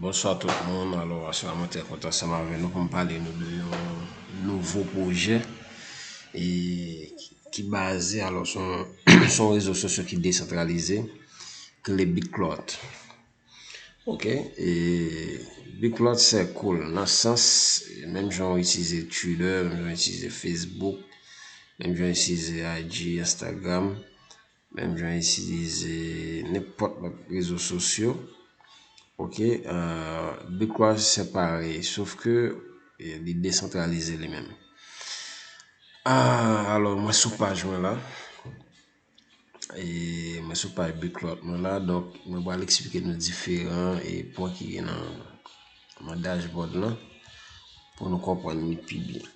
Bonswa tout moun, alò aswa mwen te kontan sa mwen nou pou m pale nou de yon nouvo pwojè e ki baze alò son rezo sosyo ki desantralize ki le Bitklot. Ok, e Bitklot se koul nan sans menm jan ou itize Twitter, menm jan ou itize Facebook, menm jan ou itize IG, Instagram. Menm jan itilize nenpòt lòt rezo sosyo ok Bitcoin separe sof ke li desantralize li menm alò mwen sou paj mwen la mwen sou paj Bitclout mwen la donk mwen pral eksplike nou diferan pwen ki gen nan dashboard la pou nou konprann li pi byen.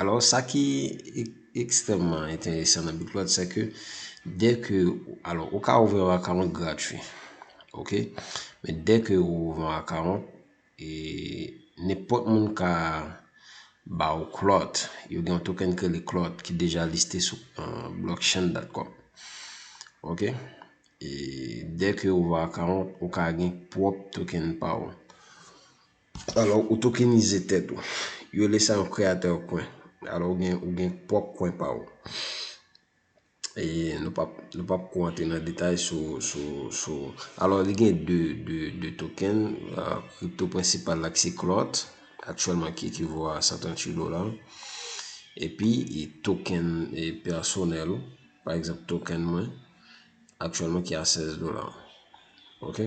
Alò, sa ki ekstrèmman enteresan nan BitClout, se ke dè ke, alò, ou ka ouvè yon akawont gratwi. Ok? Men dè ke ou ouvè yon akawont, e, nenpòt moun ka ba ou Clout. Yo gen yon token ki rele Clout ki deja liste sou blockchain.com. Ok? E, dè ke ou ouvè akawont, ou ka gen pwòp token pa ou. Alò ou tokenize tèt ou. Yo rele sa yon creator coin. Alò ou gen ou gen pwòp coin pa ou. E nou pap nou pap ko antre nan detay sou sou sou alò li gen de de de token kripto prensipal la ki se clot aktyèlman ki ekivo a 138 dola. Epi e token e pèsonèl ou pa egzanp token mwen aktyèlman ki a 16 dola. Ok.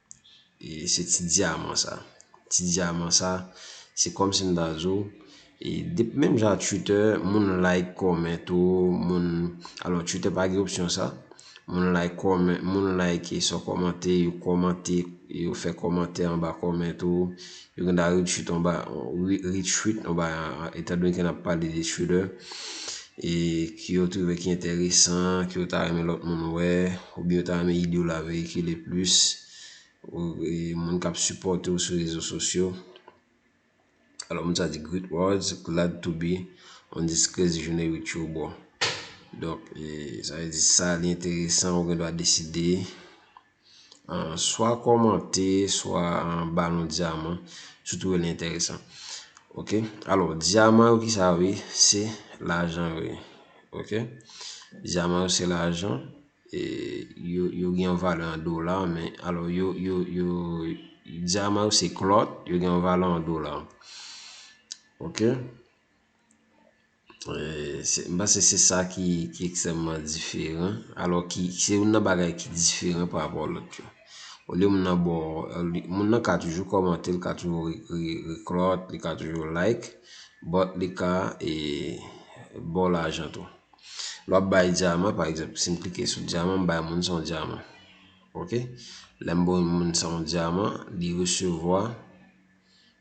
e se ti dyaman sa ti dyaman sa se kòm si m ta di w e dep menm jan ak twitter moun like kòmen tou moun alò twitter pa gen opsyon sa moun like kòmen moun like sa w kòmante yo kòmante yo fè kòmantè anba kòmantè w Uganda retweet anba retweet anba etan donke n ap pale de Twitter e ke yo twouve ki enteresan ke yo ta renmen lòt moun wè oubyen yo ta renmen ide w la veyikile plis ou moun k ap sipòte w sou rezo sosyo alò moun sa di great words glad to be on this crazy journey with you bro donk sa vle di sa li enteresan ou gen dwa deside Swa kòmante, swa ba nou dyaman, sou tou el enteresan. Ok, alo, dyaman yo ki sa yo ye, se lajan yo ye. Ok, dyaman yo se lajan, yo gen yon vale an dola, men, alo, yo, yo, yo, dyaman yo se klòt, yo gen yon vale an dola. Ok. M panse se sa ki ekstrèmman diferan. Alò ki, se youn nan bagay ki diferan pa rapò lòt yo. Olye moun nan bo, moun nan ka toujou kòmante, li ka toujou reklòt, li ka toujou like, but li ka e bo lajan tou. Lè w ap bay dyaman, pa egzanp, si m klike sou dyaman, m bay moun sa yon dyaman. Ok? Lè m ba yon moun sa yon dyaman, li resevwa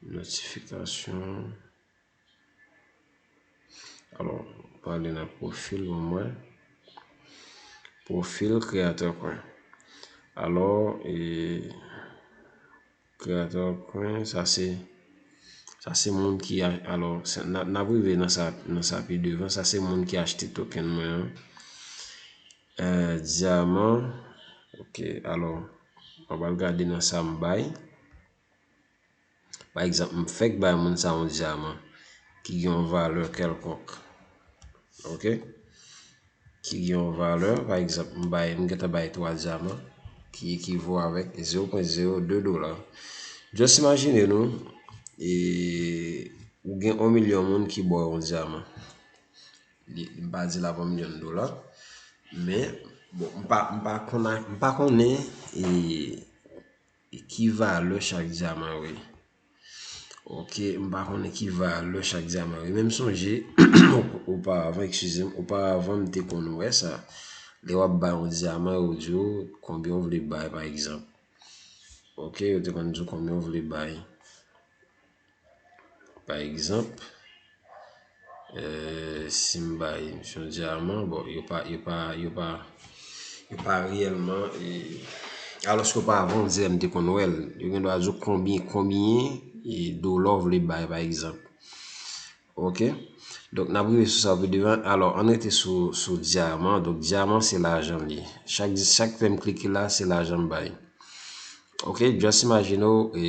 Notifikasyon Alò, pou ale nan pwofil ou mwen Pwofil kreyatè kwen Alò, e Kreyatè kwen Sa se Sa se moun ki a Alò, n ap rive nan sa pi devan Sa se moun ki achte token mwen an Euh diaman ok alò map al gade nan sam bay pa egzanp m fèk bay moun sa yon diaman ki gen yon valè kèlkonk ok ki gen yon valè pa egzanp m bay m gentan bay 3 diaman ki ekivo avèk 0.02 dola just imajine nou ou gen 1 milyon moun ki ba w yon diaman Li m pa di l ap yon milyon dola. Men, bon m pa m pa konn ak m pa konnen e ki valè chak dyaman yo ye. Ok, m pa konnen ki valè chak dyaman yo ye. Men m sonje oparavan, ekskize m, oparavan m te konn wè sa. Lè w ap bay yon dyaman yo di w konbyen w vle bay pa egzanp. Ok, yo te konn di w konbyen w vle bay. Pa egzanp, si m bay misye yon dyaman, bon, yo pa, yo pa, yo pa, yo pa reyèlman e, alòske yo pa vann zè m te konn wè l. Yo gen dwa di w konbyen, konbyen e dola w vle bay, pa egzanp. Ok? Donk, n ap rive sou sa pi devan. Alò, ann rete sou, sou dyaman. Donk, dyaman se lajan l ye. Chak di, chak lè m klike la, se lajan m bay. Ok? Just imagine w e.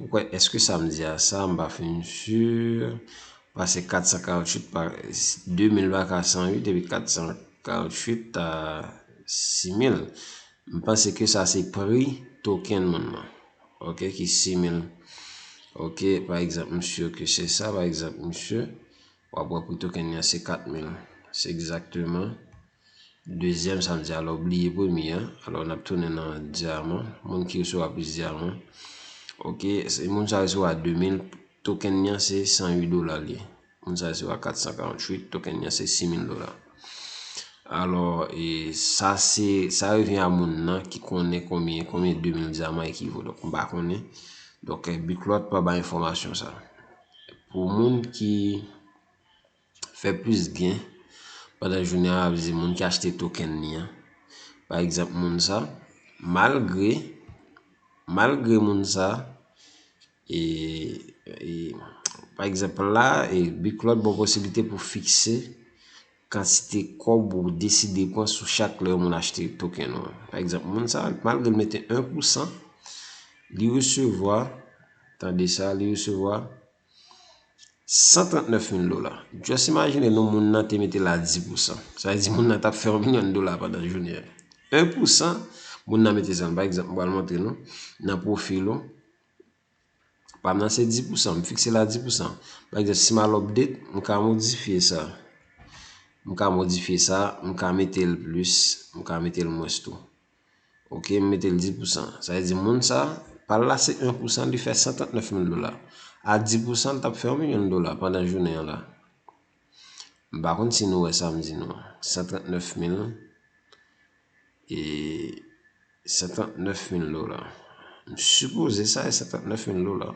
Ou kwè eske sa m di a sa m pa fin sur pase 448 pa 2000 pa ka 108 epi 448 ta 6000 m panse ke sa se pri token moun nan ok ki 6000 ok pa egzanp m sur ke se sa pa egzanp m sur Wap wè pri token li an se 4000. Se egzakteman dezyèm sa m di a lè w bliye premye a. Alò n ap tounen nan dyaman. Moun ki resevwa plis dyaman. Ok, se moun sa resevwa 2000. Token li an se 108 dola li ye. Moun sa resevwa 448. Token li an se 6000 dola. Alò, sa se, sa revyen a moun nan ki konnen konbyen, konbyen 2000 dyaman ekivo. Donk m pa konnen. Donk, Biklòt pa bay enfòmasyon sa. Pou moun ki fè plis gen pandan jounen an, avize moun ki achte token ni an. Pa egzanp moun sa, malgre, malgre moun sa, e, e, pa egzanp la, e, bi klòt bon posibilite pou fikse. kantite kòb ou deside pran sou chak lè yon moun achte token ou an. Pa egzanp, moun sa a, malgre l mete 1 pousan, li resevwa, tande sa, li resevwa 139 mil dola. Just imajine nou moun nan te mete la 10 pousan. Sa vle di moun nan t ap fè yon milyon dola pandan jounen an. 1 pousan, moun nan mete sa. Pa egzanp, m pral montre nou nan pwofil ou. Pam nan se 10 pousan, m fikse l a 10 pousan. Pa egzanp, si m al update, m ka modifye sa. M ka modifye sa, m ka mete l plis, m ka mete l mwens tou. Ok, m mete l 10 pousan. Sa vle di moun sa, pa l la se 1 pousan, li fè 139 mil dola. A 10 pousan, l t ap fè yon milyon dola pandan jounen an la. M pa konn si nou wè sa m di nou an. 139 mil e 139 mil dola. M sipoze sa e 139 mil dola.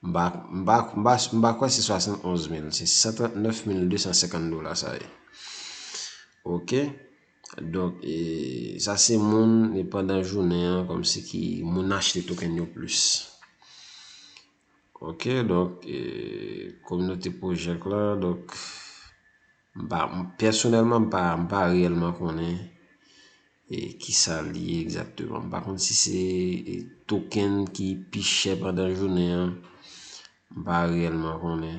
M pa m pa m pa m pa kwè se 71 mil. Se 139 mil 250 dola sa ye. Ok. Donk e sa se moun e pandan jounen an kòmsi ki moun achte token yo plis. Ok donk kominote project la donk personelman m pa reyelman konnen kisa li ye egzakteman m pa konn si se token ki pi chè pandan jounen an m pa reyelman konnen.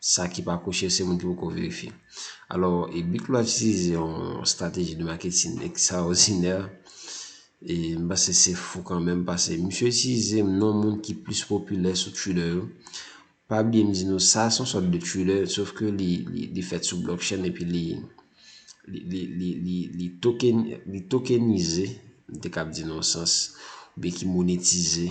Sa ki pa kouche se moun ki poko verifye. Alò, e Bic Noir itilize yon strateji de marketing extraordinè, e m panse se fou kanmenm pase misye itilize non moun ki plis popilè sou Twitter yo. Pa bliye m di nou sa se yon sòt de Twitter sof ke li fèt sou blockchain epi li li tokenize, m te kab di nan yon sans, oubyen ki monetize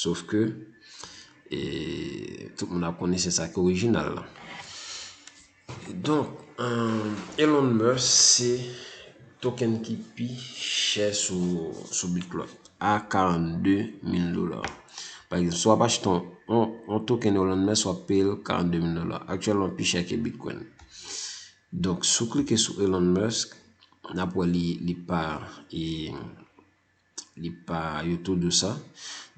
Sof ke, tout moun ap konnen se sa ki orijinal la. Donk, Elon Musk se token ki pi chè sou Bitcoin a 42 mil dola. Pa ekzanp, si w ap achte yon token Elon Musk, w ap peye l 42 mil dola. Aktyèlman, l pi chè ke Bitcoin. Donk, si w klike sou Elon Musk, n ap wè li pa Li pa yo tou dou sa.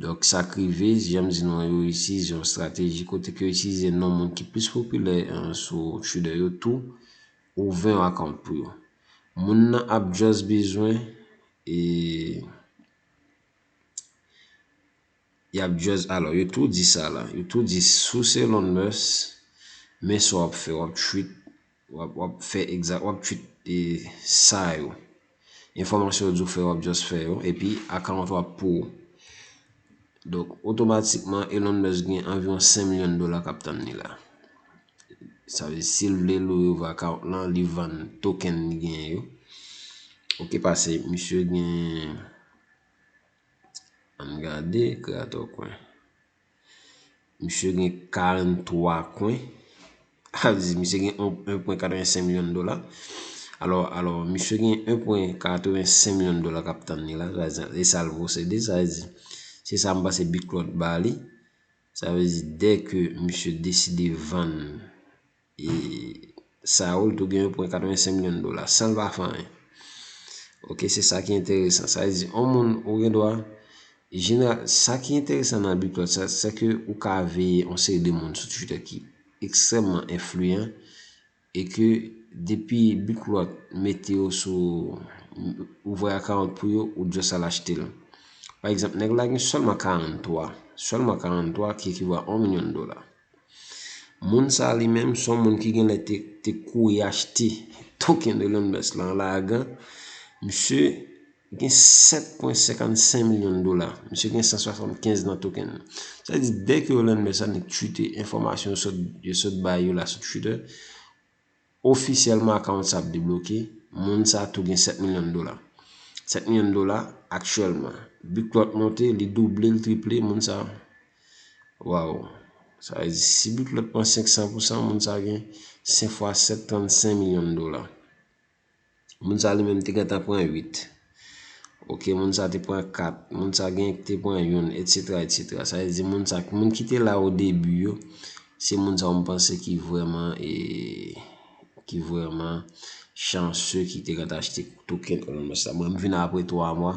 Donk sa k rive, jan m di nou an, yo itilize yon estrateji kote ke yo itilize non moun ki plis popilè sou Twitter yo tou ouvè yon account pou yo. Moun nan ap just bezwen e y ap just alò yo tou di sa la, yo tou di sous Elon Musk men sa w ap fè w ap tweet Wap fè exact wap tchwit e sa yo. Enfòmasyon yo di w fè wap just fè yo epi account ou ap pou ou. Donk otomatikman Elon Musk gen anviwon 5 milyon dola kap tann li la. Sa vle si l vle l ouvri account lan li vann token li genyen yo. Ok pase misye gen ann gade creator coin. Misye gen 43 kwen. Sa vle di misye gen 1.85 milyon dola. Alò, misye gen 1.85 milyon dola k ap tann li la. E sa l posede. Sa vle di, se sa m panse Biklòt ba li. Sa vle di, dèke misye deside vann E Saul tou gen 1.85 milyon dola san l pa fè anyen. Ok, se sa ki enteresan. Sa vle di, yon moun ou gen dwa, jeneral, sa ki enteresan nan Biplot sa, se ke ou ka veye yon seri de moun sou Twitter ki ekstrèmman enfliyan e ke depi Biplot mete yo sou, ouvè akawont pou yo, ou just al achte l. Pa egzanp, nèg la gen sèlman 43, sèlman 43 ki ekiva 1 milyon dola. Moun sa li menm son moun ki gen lè te kouri achte token de Londres lan la agan. Misye gen 7.55 milyon dola. Misye gen 175 nan token nan. Sa di dèk yo Londres sa ni twite enfomasyon yo sot bayo la sou Twitter. Ofisyèlman akawont sa ap debloke, moun sa tou gen 7 milyon dola. 7 milyon dola aktyèlman. Bic Lot monte, li double, li triple, moun sa. Waw. Sa vle di si Bic Lot pran 500 pousan, moun sa gen 5 fwa 7, 35 milyon dola. Moun sa li menm te gentan pran 8. Ok, moun sa te pran 4. Moun sa genyen ki te pran youn, etsetera, etsetera. Sa vle di moun sa, moun ki te la o debi yo, se moun sa ou m panse ki vreman e, ki vreman chanse ki te gentan achte token Elon Musk la. Mwen m vin apre 3 mwa,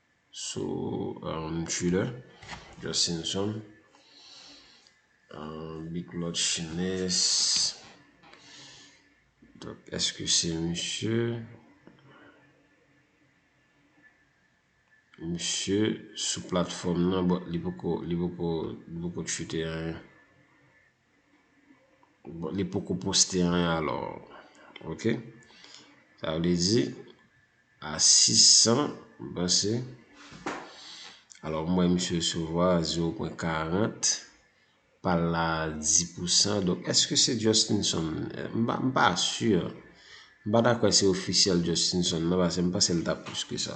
sou thriller just simpson big lot chines donk eske se misye misye sou platfòm nan bon li poko li poko li poko chute anyen. Bon li poko poste anyen alò ok sa vle di a 600 m panse alò m wè misye resevwa 0.40 pa l la 10 pou san donk èske se Justinson m pa si m pa ta kwè se ofisyèl Justinson nan pase m panse l ta plis ke sa.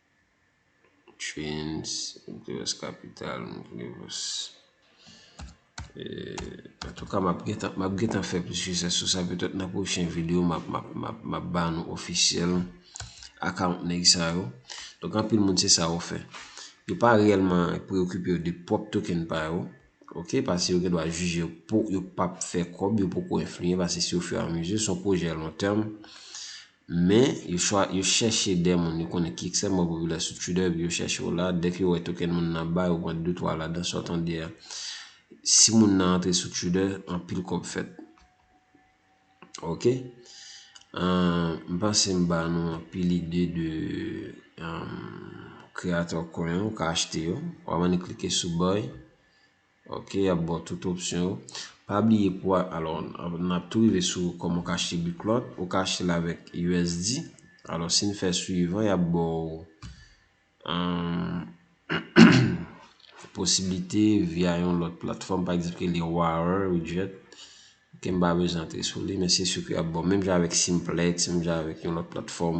Trens Dwes Kapital Antouka map gentan map gentan fè plis research sou sa petèt nan pwochen video map map map map ba nou ofisyèl account nèg sa yo Donk anpil moun se sa yo fè Yo pa reyèlman preyokipe yo de pwòp token pa yo ok pase yo gendwa jije yo pou yo pap fè kòb yo poko enfliye pase si yo fè anmize son pwojè lontèm Men, yo chwa, yo chèche dè moun yo konnen ki ekstrèmman popilè sou Twitter epi yo chèche yo la. Dèke yo wè token moun nan ba, yo pran detwa ladan sa w tande a. Si moun nan antre sou Twitter, anpil kòb fèt. Ok. M panse m ba nou anpil ide de Creator Coin an. Ou ka achte yo. Ou ap annik klike sou buy. Ok yap baw tout opsyon yo. Pa bliye pou alò nap tou rive sou kòman ou ka achte Biclot. Ou ka achte l avèk usd. Alò si n fè swivan yap baw posiblite via yon lòt platfòm pa egzanp ki rele Warer ou Jet. Ke m pa bezwen antre sou li, men se sur ke y ap ba w. Menm jan avèk Simplex, menm jan avèk yon lòt platfòm,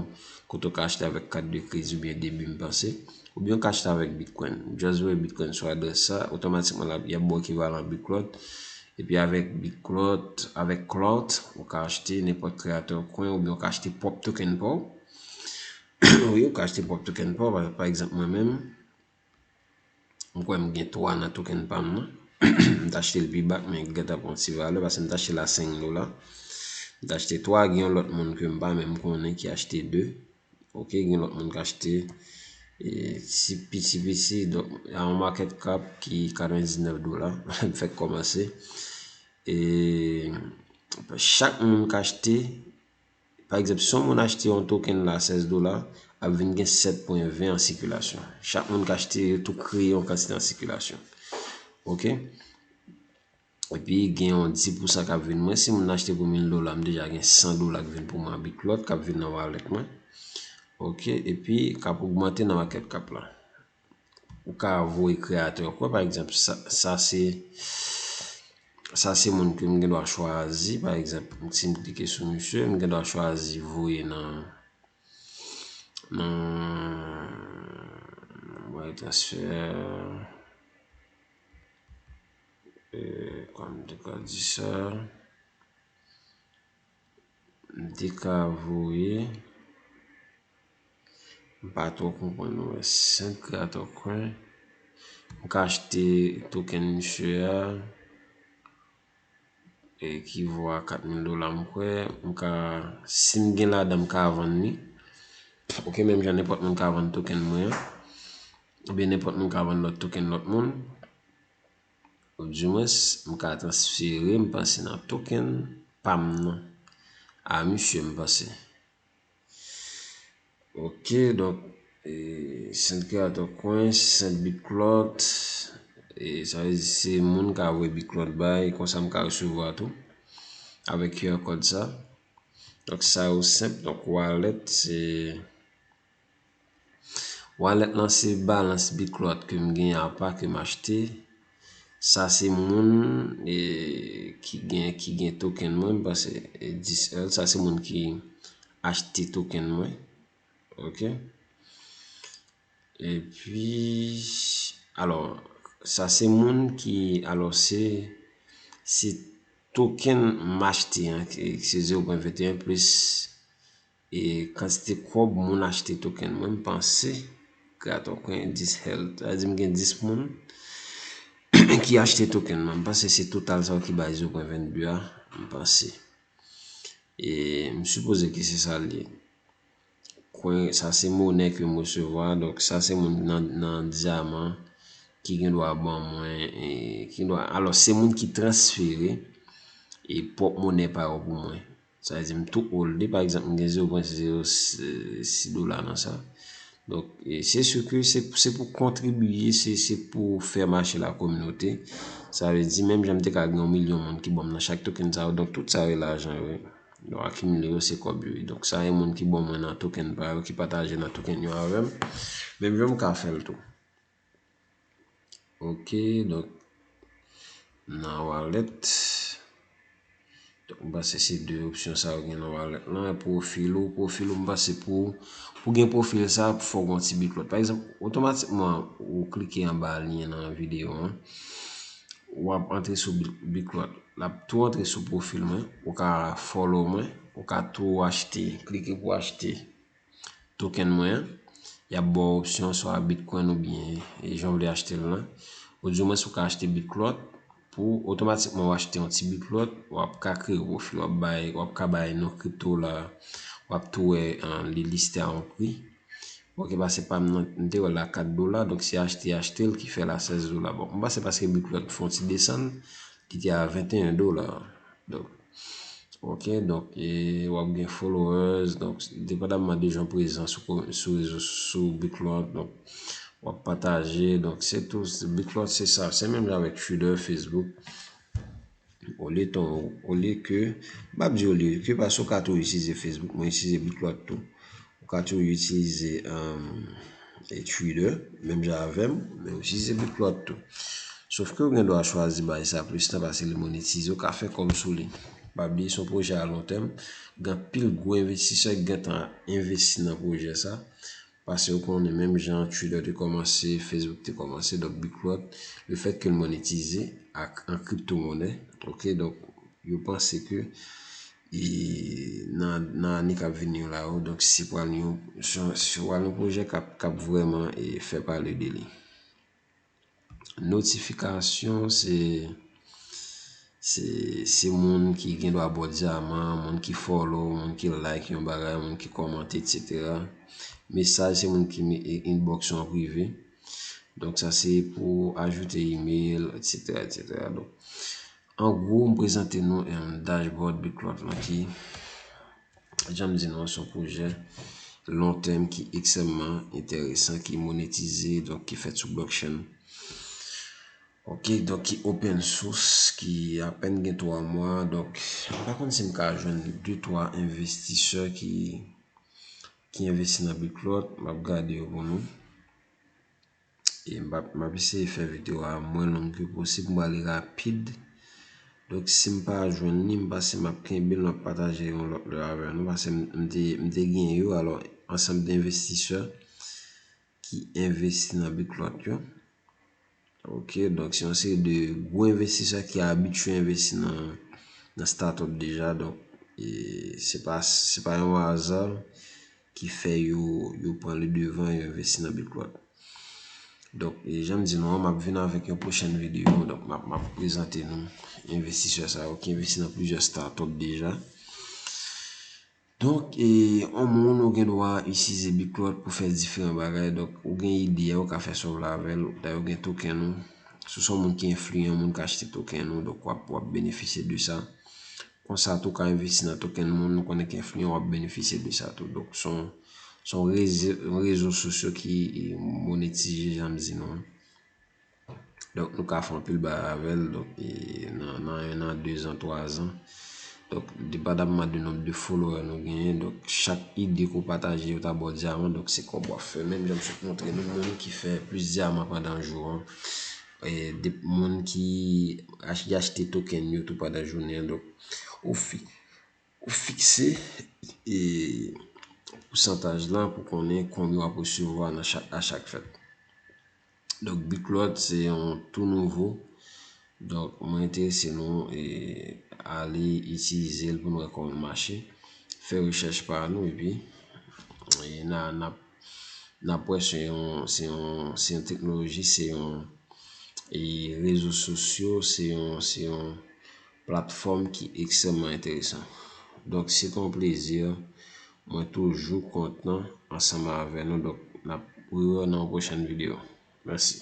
kote w ka achte avèk kat de kredi oubyen debi m panse. Oubyen w ka achte avèk Bitcoin. Just voye Bitcoin sou adrès sa, otomatikman l ap, y ap ba w ekivalan Bclout. Epi avèk Bclout, avèk Clout, ou ka achte nenpòt creator coin oubyen ou ka achte pwòp token pa w. Wi, ou ka achte pwòp token pa w. Pa egzanp mwen menm. M kwè m gen 3 nan token pa m nan. M ta achte l pi ba men gen tan pran ti valè paske m ta achte l a 5 dola. M ta achte 3, gen yon lòt moun ke m pa menm konnen ki achte 2. Ok, gen yon lòt moun ki achte ti piti piti donk a yon market cap ki 99 dola m fèk kòmanse. E chak moun ki achte Pa egzanp, si yon moun achte yon token la a 16 dola, ap vin gen 7 pwen 20 an sikilasyon. Chak moun ki achte yo tou kreye yon kantite an sikilasyon. Ok? Epi gen yon 10 pousan k ap vin mwen. Si moun achte pou 1000 dola, m deja gen 100 dola k vin pou mwen an biklòt k ap vin nan walèt mwen. Ok? Epi k ap ogmante nan makèt kap la. Ou ka voye kreyatè ou. Pa egzanp, sa se, sa se moun ke m gen dwa chwazi. Pa egzanp, si m klike sou misye, m gen dwa chwazi voye nan, nan, voye transfer. Eee, kòm m te ka di sa. M te ka voye. M pa twò konprann non men 5 rat o kwen. M ka achte token misye a. E ki vo a 4000 dola m kwè. M ka si m gen ladan m ka vann li. Ok menm jan nenpòt moun ka vann token mwen an. Oubyen nenpòt moun ka vann lòt token lòt moun. Ou di mwens m ka transfere m panse nan token pam nan a misye m panse. Ok donk e send create a coin send bitclout e sa vle di se moun ka voye bitclout bay konsa m ka resevwa tou avèk qr code sa. Donk sa yo senp donk wallet se. Wallet lan se balance Bitclout ke m gen a pa ke m achte. Sa se moun ki gen ki gen token mwen m panse 10 èl. Sa se moun ki achte token mwen. Ok. E pi alò sa se moun ki alò se se token m achte an ki se 0.21 plis. E kantite kob moun achte token mwen m panse kreatò kwen 10 hell sa vle di m gen 10 moun ki achte token mwen m panse se total sa ki bay 0.22 a m panse e m sipoze ke se sa l ye kwen sa se monnen ke m resevwa donk sa se moun nan diaman ki gen dwa ban mwen e ki gen dwa alò se moun ki transfere e pwòp monnen pa yo pou mwen Sa vle di m tou holde pa egzanp m gen 0.06 dola nan sa. Donk se su ke se pou kontribiye se pou fè mache la kominote. Sa vle di menm jan m te ka gen yon milyon moun ki banm nan chak token sa yo. Donk tout sa yo e lajan yo. Donk akimile yo se kòb yo. Donk sa yon moun ki ban mwen nan token pa yo ki pataje nan token yo avèm. Menm jan m ka fèl tou. Ok donk nan wallet donk m panse se 2 opsyon sa yo gen nan wallet lan e profil ou profil ou m panse pou pou gen profil sa fòk ou gen yon ti bit lòt pa egzanp otomatikman ou klike anba lyen nan videyo an w ap antre sou bit lòt l ap tou antre sou profil mwen ou ka follow mwen ou ka tou achte klike pou achte. token mwen an, y ap ba w opsyon swa Bitcoin oubyen jan w vle achte l lan. Odyomwens ou ka achte Bitlot, pou otomatikman w achte yon ti Bitlot, w ap ka kreye pwofi, w ap bay, w ap ka bay non crypto la, w ap tou wè li liste a yon pri. Bon ki pase pa m nan, m te wè l a 4 dola, donk se achte achte l ki fè l a 16 dola. Bon, m panse paske Bitlot fè yon ti desann, li te a 21 dola. Donk ok donk e wap gen followers donk depandaman de jan prezan sou rezo sou biclot donk wap pataje donk se tou biclot se sa se menm jan avèk twitter facebook olye ton olye ke m pap di olye ke paske ou ka tou itilize facebook mwen itilize biclot tou Ou ka tou itilize Twitter menm jan avèm, men ou itilize Bitplot tou. Sof ke ou gen dwa chwazi bay sa plis tan pase li monetize, ou ka fè kòm sou li. Pa bliye se yon pwojè a lon tèm, gen anpil gwo envestisè ki gen tan envesti nan pwojè sa. Pase ou konnen menm jan Twitter te kòmanse, Facebook te kòmanse, donk Bitplot le fèt ke l monetize ak an kripto monè, ok, donk yo panse ke e nan ane kap vini yo la yo donk se pral yon pwojè kap vreman fè pale de li notifikasyon se se moun ki gen dwa bo diyaman moun ki follow, moun ki like yon bagay, moun ki komante etc mesaj se moun ki inbox ou an prive donk sa se pou ajoute email etc etc An gwo, m prezante nou yon dashboard Bitplot lan ki, jan m di nou an, se yon pwojè long term ki ekstrèmman enteresan, ki monetize, donk ki fèt sou blockchain. Ok, donk ki open source, ki apèn gen 3 mwa, donk m pa konn si m ka jwenn 2, 3 envestisè ki envesti nan Bitplot, m ap gade yo pou nou. E m pap, m ap eseye fè video a mwen long ke posib, m pral li rapid. Donk si m pa jwenn li, m pase m ap kenbe l, m ap pataje yon lòt lè avè nou. Pase m te, m te gen yo, alò ansanm de envestisè ki envesti nan Biclot yo. Ok, donk se yon seri de gwo envestisè ki abitye envesti nan, nan startup deja. Donk, e se pa, se pa yon aza ki fè yo yo pran le devan yo envesti nan Bitplot. Donk, e jan m di nou an, m ap vin avèk yon pwochèn videyo. Donk, m ap m ap prezante nou envestisè sa yo ki envesti nan plizyè startup deja. Donk, e yon moun ou gen dwa itilize Bitplot pou fè diferan bagay. Donk, ou gen ide a, ou ka fè sa w vle avè l. Dayè, ou gen token ou. Si w se yon moun ki enfliyan, moun ka achte token ou. Donk, w ap w ap benefisye de sa. Konsa tou ka envesti nan token moun nou konnen ki enfliyan wap benefisye de sa tou. Donk son son rezo sosyo ki monetize janm di nou an. Donk nou ka fè anpil bagay avèl donk nan 1 an 2 zan 3 zan. Donk depadamman de nonb de followè nou genyen donk chak ide ke w pataje yo ta ba w dyaman donk se kòb wap fè. Menm jan m sot montre nou moun ki fè plis dyaman pandan jou an. de moun ki achte token yo tou pandan jounen an. Donk, ou fikse pousantaj lan pou konnen konbyen w ap resevwa a chak fèt. Donk, Biklòt se yon tou nouvo. Donk, mwen enterese nou ale itilize l pou nou wè kòman l mache. Fè rechèch pa nou epi n ap. Nanpwen se yon se yon se yon teknoloji se yon e rezo sosyo se yon se yon platfòm ki ekstrèmman enteresan. Donk se te yon plezi mwen toujou kontan ansanm avè nou donk n ap wè w nan yon pwochèn videyo. Mèsi.